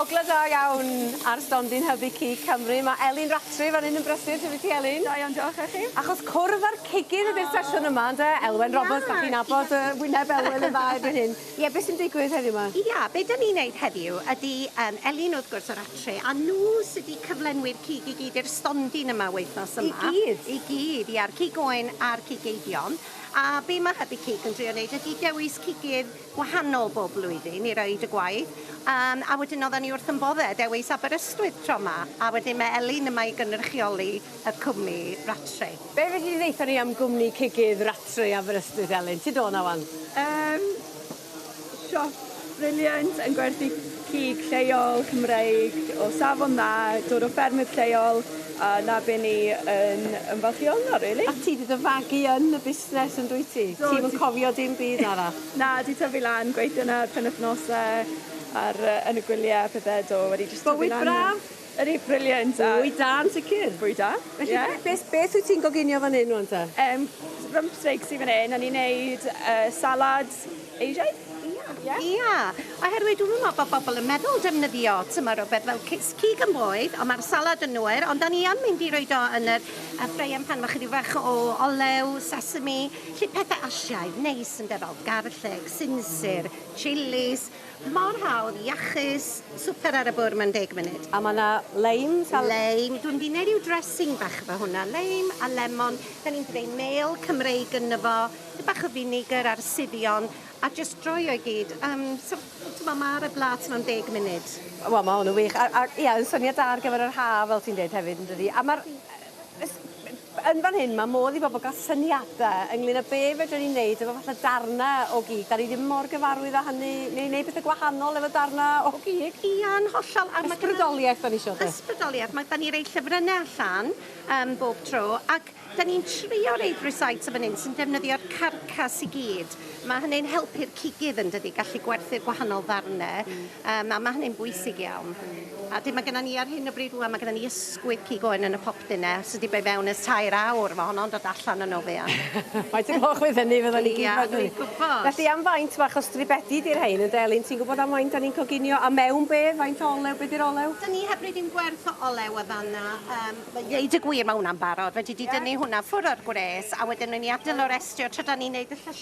Ogla da iawn ar stondin hybu cig Cymru. Mae Elin Rattray fan hyn yn brysur. Sut wyt ti Elin? Da iawn diolch, a chi? Achos cwrdd â'r cigyn ydy'r sesiwn yma ynde? Elwen Roberts, dach chi'n nabod y wyneb Elwen yn dda erbyn hyn. Ie, beth sy'n digwydd heddiw ma? Ia, be dan ni'n neud heddiw ydy yym Elin wrth gwrs o Rattray a nhw sy di cyflenwi'r cig i gyd i'r stondin yma wythnos yma. I gyd? I gyd, ia'r cig oen a'r cig eifion. A be ma' Hybu Cig yn drio neud ydy dewis cigydd wahanol bob blwyddyn i roid y gwaith yym a wedyn oddan ni wrth yn bodde dewis Aberystwyth tro 'ma a wedyn ma' Elin yma i gynrychioli y cwmni Rattray. Be' fedri di ddeutha ni am gwmni cigydd Rattray Aberystwyth Elin? Ti do' 'na ŵan. Yym siop briliant yn gwerthu cig lleol, Cymreig, o safon dda, dod o ffermydd lleol, a 'na be ni yn ymfalchïo ynddo rili. A ti 'di dy fagu yn y busnes yn dwyt ti? Do. Ti'm yn cofio dim byd arall? Na, 'di tyfu lan, gweithio 'na ar penwythnose, ar yy yn y gwylie a pethe, do, wedi jyst tyfu lan 'na. Bywyd braf? Yr u- brilliant a... Bwyd da yn sicr. Bwyd da. Felly yeah. be- beth beth wyt ti'n goginio fan hyn rwan ta? Um, rump steaks i fan hyn, o'n i'n neud uh, salad Asiaidd. Ia. Ia. Oherwydd dwi'n meddwl bod bobl yn meddwl defnyddio tymor o beth fel cig yn boed, ond mae'r salad yn nwyr, ond da ni am mynd i roed o yn yr y ffreian pan mae chydig fach o olew, sesame, lle pethau asiaidd, neis yn defol, garlleg, sinsir, chilis, Mor hawdd, iachus, swper ar y bwr mewn deg munud. A ma' 'na leim sal-... Leim, dw i'n mynd i neud ryw dressing bach efo hwnna, leim a lemon, 'dan ni'n creu mêl Cymreig ynddo fo, dipyn bach o finegr ar suddion, a jyst droio i gyd, yym so t'mo' ma' ar y blât mewn deg munud. Wel ma' hwn yn wych a a ia yn syniad da ar gyfer yr haf fel ti'n deud hefyd yndydi? A ma'r yy yn fan hyn mae modd i bobl gael syniadau ynglyn â be fedrwn ni'n neud efo fatha darnau o gig. Da ni ddim mor gyfarwydd â hynny, neu neud pethau gwahanol efo darnau o gig. Ia, yn hollol. A Ysbrydoliaeth da ni isio de? Ysbrydoliaeth. Mae... Da ni rei llyfrynnau allan um, bob tro, ac da ni'n trio reid rhywsait o fan hyn sy'n defnyddio'r carcas i gyd. Mae hynny'n helpu'r cigydd yn dydi, gallu gwerthu'r gwahanol ddarnau, um, a mae hynny'n bwysig iawn. A dyn mae gennym ni ar hyn o bryd rwan, mae gennym ni ysgwydd cig oen yn y popdyn e, sy wedi bod fewn ers tair awr, mae honno'n dod allan yn ofian. Faint o gloch fydd hynny, fydden ni gyd fel dwi'n gwybod. Felly am faint bach o stribedi di'r rhain yn delyn, ti'n gwybod am faint da ni'n coginio a mewn be, faint o olew, be di'r olew? Da ni heb roi dim gwerth o olew o fanna, yym mae... Dweud y gwir mae hwnna'n barod, fedri di dynnu hwnna ffwr o'r gwres a wedyn roi ni adelo'r estri o tra da ni'n neud y llysie.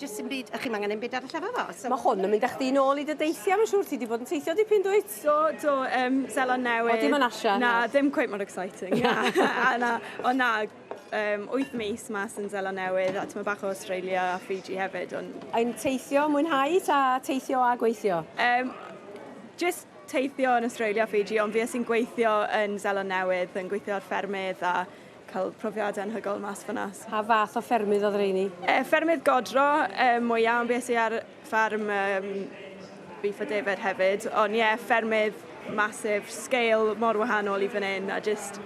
Jyst dim byd, a chi'm angen dim byd arall efo fo. So... Mae hwn yn mynd â chdi nôl i dy deithiau, mae'n siŵr ti wedi bod yn teithio dipyn dwyt? Do, do, um, Seland Newydd. O, dim yn Asia? Na, na, ddim quite mor exciting. Na, na, o na, um, 8 mis mas yn Zela Newydd, a ti'n bach o Australia a Fiji hefyd. On... Yn teithio, mwynhau, ta teithio a gweithio? Um, just teithio yn Australia a Fiji, ond fi sy'n gweithio yn Zela Newydd, yn gweithio ar ffermydd a cael profiadau anhygoel mas fyna. Pa fath o ffermydd oedd reini? E, eh, ffermydd godro, e, eh, mwyaf yn beth i ar ffarm e, Beef a David hefyd, ond ie, yeah, ffermydd masif, sgeil mor wahanol i fan hyn, a just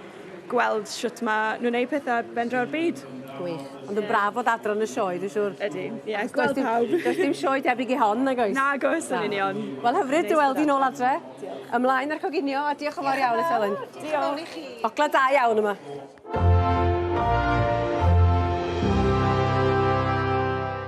gweld sut mae nhw'n gwneud pethau bendra'r byd. Gwych. Ond yn braf fod adran y sioe, dwi'n siŵr. Ydy, ie, yeah, gweld pawb. Does dim sioe debyg i hon, nag oes? Nag oes, yn union. Wel, hyfryd, dwi'n weld i'n ôl adre. Ymlaen â'r coginio a diolch yn fawr iawn eto Elin. Diolch. Ogla da iawn yma.